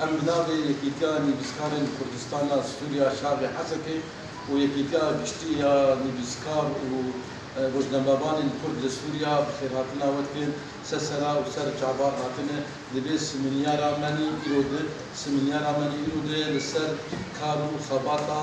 Em bi navê Yekîtiya Nivîskarên Kurdistan a Sûriya Şarê Hesekê û Yekîtiya Giştî ya Nivîskar û Rojnamevanên Kurd li Sûriya bi xêrhatina we dikin ser sera û ser çavar hatine li vê simînyara me nî îro di simînyara me nî îro di li ser kar û xebata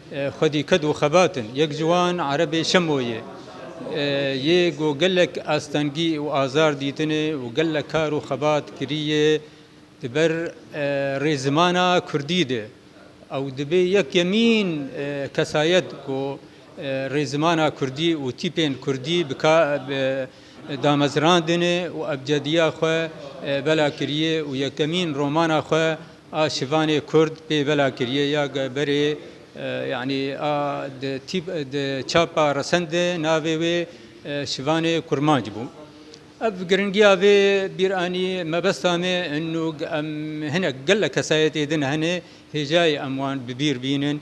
Xwedî ked û xebat in. Yek ji wan Erebê Şemo ye. Yê ku gelek astengî û azar dîtine û gelek kar û xebat kiriye di ber rê zimana kurdî de. Ew dibê yekemîn kesayet ku rê zimana kurdî û tîpên kurdî bi damezrandine û ebcediya xwe bela kiriye û yekemîn romana xwe A şivanê kurd pê bela kiriye ya berê yanî a di tîp di çapa resen de navê wê şivanê kurmanc bû. Ev giringiya vê bîr anî mebesta me in û em hinek gelek kesayetê din hene hêjayê em wan bi bîr bînin.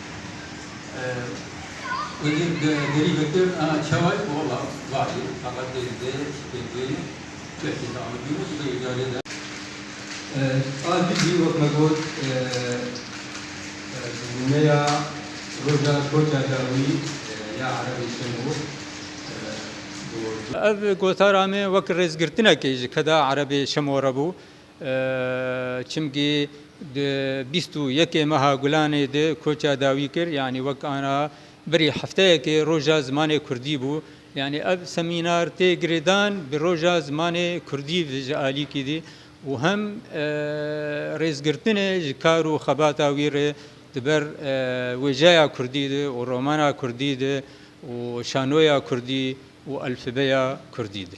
Ev gotara me wek rêzgirtinekê ji keda erebê şemo re bû. Çimkî di bîst û yekê meha Gulanê de koça dawî kir, yanî wek ana berî hefteyekê Roja Zimanê Kurdî bû. Yanî ev semînar tê girêdan bi Roja Zimanê Kurdî ve ji alîkî dî û hem rêzgirtinê ji kar û xebata wî re di ber wêjeya Kurdî de û romana Kurdî de û şanoya Kurdî û elfîbeya Kurdî de.